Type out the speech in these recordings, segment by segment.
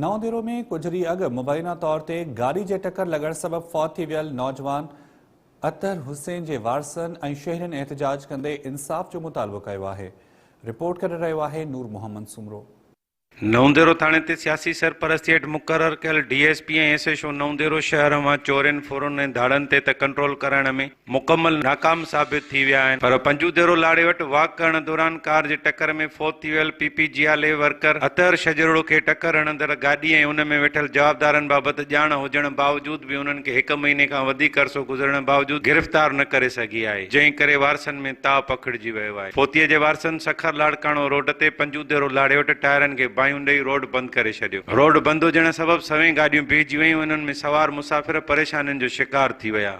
نئون ديرو ۾ ڪجهه ڏينهن اڳ مبينا طور تي گاڏي جي ٽڪر لڳڻ سبب فوت ٿي ويل نوجوان اطهر حسين جي وارثن ۽ شهرين احتجاج ڪندي انصاف جو مطالبو ڪيو آهي رپورٽ ڪري رهيو آهي نور محمد سومرو. نئون ديرو ٿاڻي تي سياسي سرپرستي هيٺ مقرر ڪيل D S P ۽ S H O Naudero شهر امان چورين ڦرن ۽ ڌاڙن تي ته ڪنٽرول ڪرائڻ ۾ مڪمل ناڪام ثابت ٿي ويا آهن پر پنجو ديرو لاڙي وٽ واڪ ڪرڻ دوران ڪار جي ٽڪر ۾ فوت ٿي ويل پي پي جي آء لي ورڪر اطهر شجرڙو کي ٽڪر هڻندڙ گاڏي ۽ ان ۾ ويٺل جوابدارن بابت ڄاڻ هجڻ باوجود به انهن کي هڪ مهيني کان وڌيڪ عرصو گذرڻ باوجود گرفتار نه ڪري سگهي آهي جنهن ڪري وارثن ۾ تاء پکڙجي ويو آهي فوتي جي وارثن سکر لاڙڪاڻو روڊ تي پنجو ديرو لاڙي وٽ ٽائرن کي باهيون ڏئي روڊ بند ڪري ڇڏيو روڊ بند هجڻ سبب سوين گاڏيون بيهجي ويون انهن ۾ سوار مسافر پريشانين جو شڪار ٿي ويا.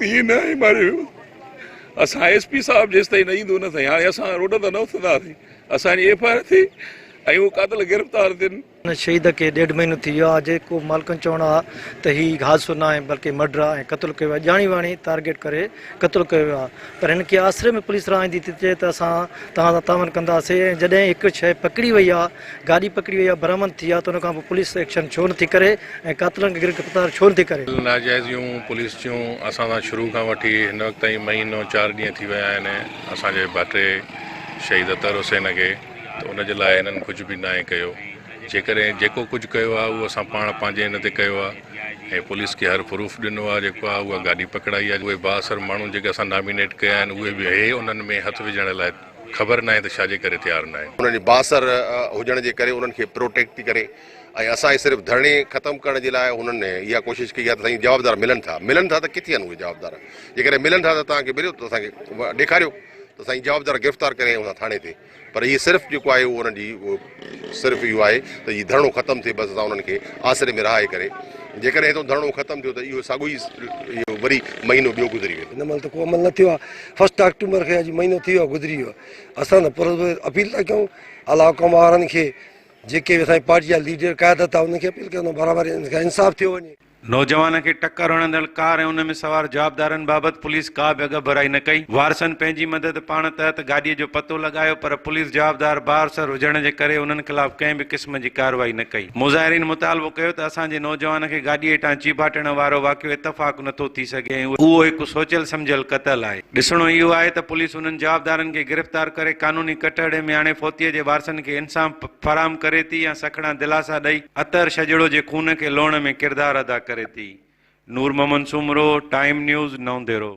ائين نه آهي ماري ويو اسان ايس پي صاحب جيستائين نه ايندو نه سائين هاڻي اسان روڊن تان نه اٿنداسين اسان جي ايف آء آر ٿي ۽ اهي قاتل گرفتار ٿين. هن شهيد کي ڏيڍ مهينو ٿي ويو آهي جيڪو مالڪن چوڻ آهي ته هي حادثو نه آهي بلڪه مڊر آهي ۽ قتل ڪيو ويو آهي ڄاڻي واڻي ٽارگيٽ ڪري قتل ڪيو ويو آهي پر هن کي آسري ۾ پوليس رهائيندي ٿي چئي ته اسان توهان سان تعاون ڪنداسين ۽ جڏهن هڪ شيء پڪڙي وئي آهي گاڏي پڪڙي وئي آ برآمد ٿي آ ته ان کان پوء پوليس ايڪشن ڇو نٿي ڪري ۽ قاتلن کي گرفتار ڇو نٿي ڪري. ڳالهيون ناجائز يون پوليس جون اسان سان شروع کان وٺي هن وقت تائين مهينو چار ڏينهن ٿي ويا آهن اسان جي ڀاٽي شهيد اطهر حسين کي ته ان جي لاء هنن ڪجهه به ناهي ڪيو جيڪڏهن جيڪو ڪجهه ڪيو آهي اهو اسان پاڻ پنهنجي هن تي ڪيو آهي ۽ پوليس کي هر پروف ڏنو آهي جيڪو آهي اها گاڏي پڪڙائي آهي اهي بااثر ماڻهو جيڪي اسان نامينيٽ ڪيا آهن اهي به اهي انهن ۾ هٿ وجهڻ لاء خبر ناهي ته ڇاجي ڪري تيار ناهن. انهن جي بااثر هجڻ جي ڪري انهن کي پروٽيڪٽ ٿي ڪري ۽ اسان هي صرف ڌرڻي ختم ڪرڻ جي لاء انهن اها ڪوشش ڪئي آهي ته سائين جوابدار ملن ٿا ملن ٿا ته ڪٿي آهن اهي جوابدار جيڪڏهن ملن ٿا ته توهان کي مليو ته اسان کي ڏيکاريو ته سائين جوابدار گرفتار ڪري ٿاڻي تي پر هي صرف جيڪو آهي انهن جي صرف اهو آهي ته هي ڌرڻو ختم ٿئي بس اسان انهن کي آسري ۾ رهائي ڪري جيڪڏهن هتو ڌرڻو ختم ٿيو ته اهو ساڳو ئي اهو وري مهينو ٻيو گذري ويندو. هن مهل ته ڪو عمل نه ٿيو آهي فسٽ آڪٽومبر کي اڄ مهينو ٿي ويو آهي گذري ويو آهي اسان ته پر اپيل ٿا ڪيون اعليٰ حڪام وارن کي جيڪي به اسان جي پارٽي جا ليڊر قيادت آهي انهن کي اپيل ڪيون ته برابر انصاف ٿيو وڃي. نوجوان کي ٽڪر هڻندڙ ڪار ۽ ان ۾ سوار جوابدارن بابت پوليس ڪا به اڳڀرائي نه ڪئي، وارثن پنهنجي مدد پاڻ تحت گاڏيء جو پتو لڳايو پر پوليس جوابدار بااثر هجڻ جي ڪري انهن خلاف ڪنهن به قسم جي ڪارروائي نه ڪئي. مظاهرين مطالبو ڪيو ته اسان جي نوجوان کي گاڏيء هيٺان چيڀاٽڻ وارو واقعو اتفاق نه ٿو ٿي سگهي ۽ اهو هڪ سوچيل سمجهيل قتل آهي، ڏسڻو اهو آهي ته پوليس انهن جوابدارن کي گرفتار ڪري قانوني ڪٽهڙي ۾ آڻي فوتيء جي وارثن کي انصاف فراهم ڪري ٿي يا سکڻا دلاسا ڏئي عطر شجڙو جي خون کي لوڻ ۾ ڪردار ادا ڪري ٿي. Noor Muhammad Soomro, time news, Naudero.